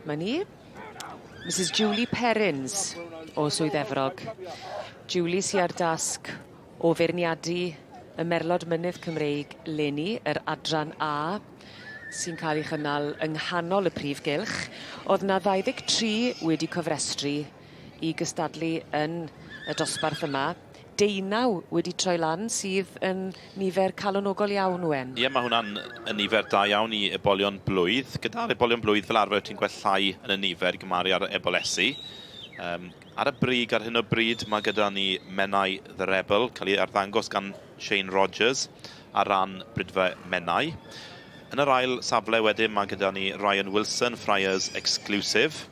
Mae ni. Misus Julie Perrins o Swydd Efrog. Julie sy ar dasg O feirniadu y merlod mynydd Cymreig leni, yr Adran A, sy'n cael ei chynnal yng nghanol y prif gylch, oedd 'na 23 wedi cofrestru i gystadlu yn y dosbarth yma, deunaw wedi troi lan sydd yn nifer calonogol iawn, Owen. Ie, mae hwnna'n yn nifer da iawn i ebolion blwydd. Gyda'r ebolion blwydd, fel arfer ti'n gweld llai yn y nifer i gymharu â'r ebol-esi. Yym. Ar y brig ar hyn o bryd mae gyda ni Menai The Rebel, cael ei arddangos gan Shane Rogers ar ran Brydfa Menai. Yn yr ail safle wedyn mae gyda ni Ryan Wilson, Friars Exclusive,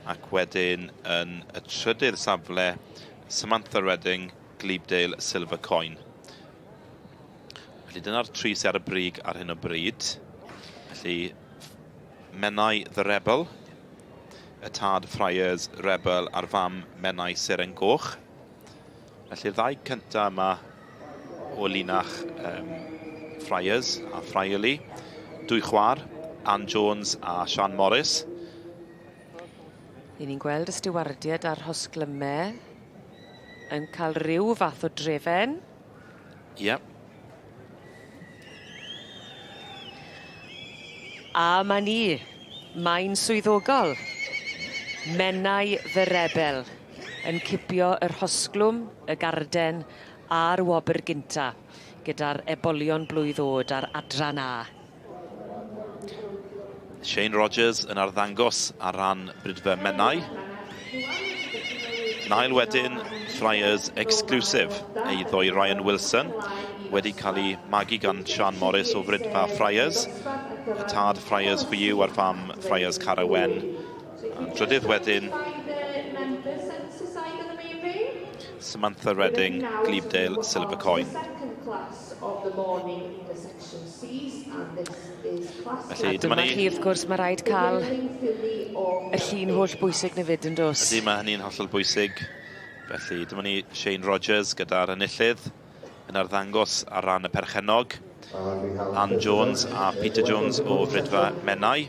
ac wedyn yn y trydydd safle Samantha Redding, Glebedale Silver Coin. Felly dyna'r tri sy ar y brig ar hyn o bryd. Felly Menai The Rebel y tad Friars Rebel a'r fam Menai Seren Goch. Felly'r ddau cyntaf yma o linach um, Friars a Friarly, dwy chwar, Anne Jones a Sian Morris. Ry'n ni'n gweld y stiwardiad a'r hosglymau yn cael rhyw fath o drefen. Yep. A ma ni. Mae'n swyddogol. Menai fy rebel yn cipio yr hosglwm, y garden a'r wobr gynta gyda'r ebolion blwydd o'd a'r adran A. Shane Rogers yn arddangos ar ran Brydfer Menai. Nail wedyn, Friars exclusive, ei ddoi Ryan Wilson, wedi cael ei magu gan Sian Morris o Frydfa Friars, y tad Friars Chwiw a'r fam Friars Cara Wen. A'n drydydd wedyn, Samantha Redding, Glebedale Silver Coin. Felly, dyma ni. A dyma chi, wrth gwrs, mae rhaid cael y llun holl bwysig na fyd, yn dos? Ydy, mae hynny'n hollol bwysig. Felly, dyma ni Shane Rogers gyda'r enillydd yn arddangos ar ran y perchennog. Ann Jones a Peter Jones o Fridfa Menai.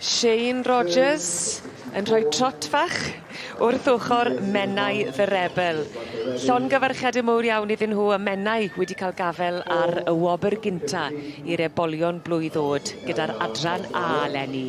Shane Rogers yn rhoi trot fach wrth ochr Menai the Rebel. Llongyfarchiade mowr iawn iddyn nhw a Menai wedi cael gafel ar y wobr gynta i'r ebolion blwydd o'd gyda'r adran A leni.